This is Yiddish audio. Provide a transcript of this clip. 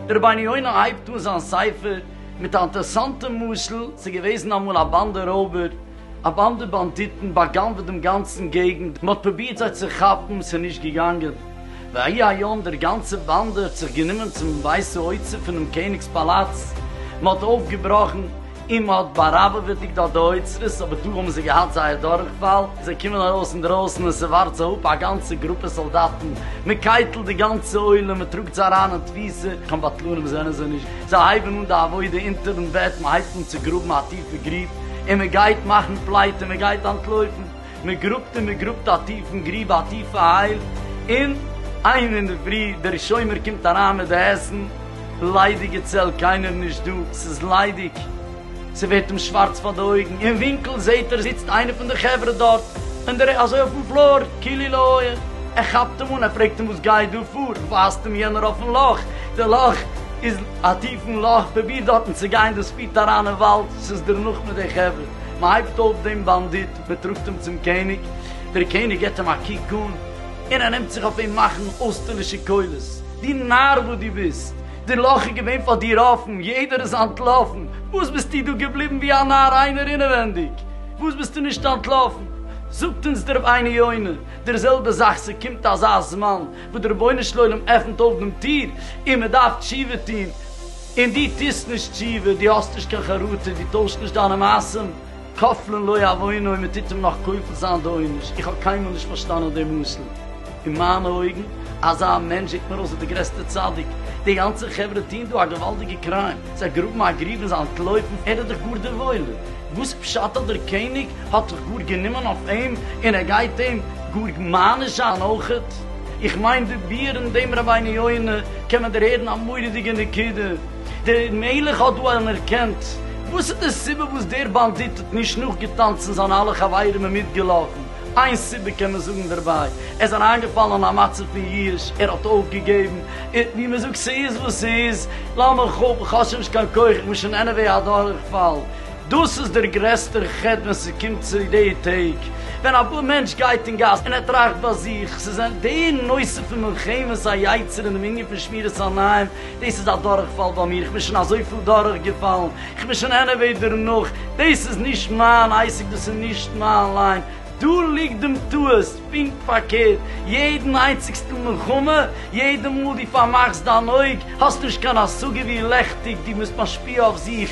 דער רבינו יונה הייבט אן זיין ספר מיט א אינטערעסאנטע משל, ס'איז געוועזן אמאל א באנדע רויבער, א באנדע באנדיטן באגנב'ט דעם גאנצן געגנט, מ'האט פרובירט זיי צו כאפן, ס'איז נישט געגאנגען, ויהי היום דער גאנצע באנדע האט זיך גענומען צום ווייסע אוצר פונעם קעניג'ס פאלאץ, מ'האט אויפגעבראכן, און מ'האט באראבעוועטיגט אט די אוצרות, אבער דא האבן זיי געהאט זייער דורכפאל, זיי קומען ארויס אינדרויסן און ס'ווארט זיי אפ א גאנצע גרופע סאלדאטן, מ'קייטלט די גאנצע עולם, מ'טראגט זיי אריין אין תפיסה, קיין בטלנים זענען זיי נישט. זיי הייבן אן די עבודה אונטערן בעט, מען הייבט אן צו גראבן א טיפע גרוב, און מען גייט מאכן פלייט און מען גייט אנטלויפן, מען גראבט און מען גראבט א טיפן גרוב א טיפע הייל, און איין אינדערפרי דער שומר קומט אריין מיט די עסן, ליידיגע צעל קיינער נישט דא, ס'איז ליידיג. ס'ווערט אים שווארץ פאר די אויגן, אין ווינקל זעהט ער זיצט איינער פון די חברה דארט, אין די רע אזוי אויפן פלאר, כאילו לא היה, ער כאפט אים אן, ער פרעגט אים וואס גייט דא פאר, ווייזט אים יענער אויפן לאך, די לאך איז א טיפן לאך, פרוביר דארטן צו גיין, דאס פירט אריין אין וואלד, ס'איז דערנאך מיט די חברה, מ'הייבט אויף דעם באנדיט, מ'טראגט אים צום קעניג, דער קעניג געבט אים א קוק אן, און ער נעמט זיך אויף אים מאכן אויסטערלישע קולות, דו נאר וואס דו ביסט, די לאך איז געווען פאר דיר אפן, יעדער איז אנטלאפן, וואס ביסטו דא געבליבן ווי א נאר איינער אינעווענדיג? וואס ביסטו נישט אנטלאפן? זאגט אונז דער רבינו יונה, דער זעלבע זאך, ס'קומט אזא זמן וואס דער רבונו של עולם עפנט אויף דעם טיר און מען דארף תשובה טון, און דו טוסט נישט תשובה, דו האסט נישט קיין חרטה, דו טוישט נישט דיינע מעשים, כפלן לא יעווינו' און מ'טוט אים נאך כופל זיין די עונש, איך האב קיינמאל נישט פארשטאנען די משל, אין מיינע אויגן אזא מענטש זעט מיר אויס ווי די גרעסטע צדיק, די גאנצע חברה טוהן דא א געוואלדיגע קריים, זיי גראבן א גריב און זיי אנטלויפן, ער איז דאך גאר דער וואוילער, וואס פשט אז דער קעניג האט זיך גאר גענומען אויף אים און ער גייט אים גאר מעניש זיין אויכעט, איך מיין די ביאור אין דעם רבינו יונה קען מען דערהערן א מורא'דיגע נקודה. דער מלך האט דא אנערקענט וואס איז די סיבה וואס דער באנדיט האט נישט נאכגעטאנצן זיינע אלע חברים און מיטגעלאפן, איין סיבה קען מען זאגן דערביי, ער איז אריינגעפאלן אין א מצב פון יאוש, ער האט אויפגעגעבן, און ווי מען זאגט ס'איז וואס ס'איז, לאמיך אפ, איך האב שוין נישט קיין כח, איך בין שוין עניוועי א דורכפאל. דאס איז דער גרעסטער חטא ווען ס'קומט צו די טעג, ווען א מענטש גייט אין גאס און ער טראכט ביי זיך, ס'איז די נושא פון מלחמת היצר און דעם ענין פון שמירת עיניים, דאס איז א דורכפאל ביי מיר, כ'בין שוין אזויפיל דורכגעפאלן, כ'בין שוין עניוועי דערנאך, דאס איז נישט מיין עסק, דאס איז נישט מיין ליין, דא ליגט דעם טעות, פונקט פארקערט, יעדן איינציגסטן מלחמה, יעדע מאל דו פארמאכסט דיין אויג, האסט נישט קיין השגה ווי לעכטיג דו ביסט משפיע אויף זיך,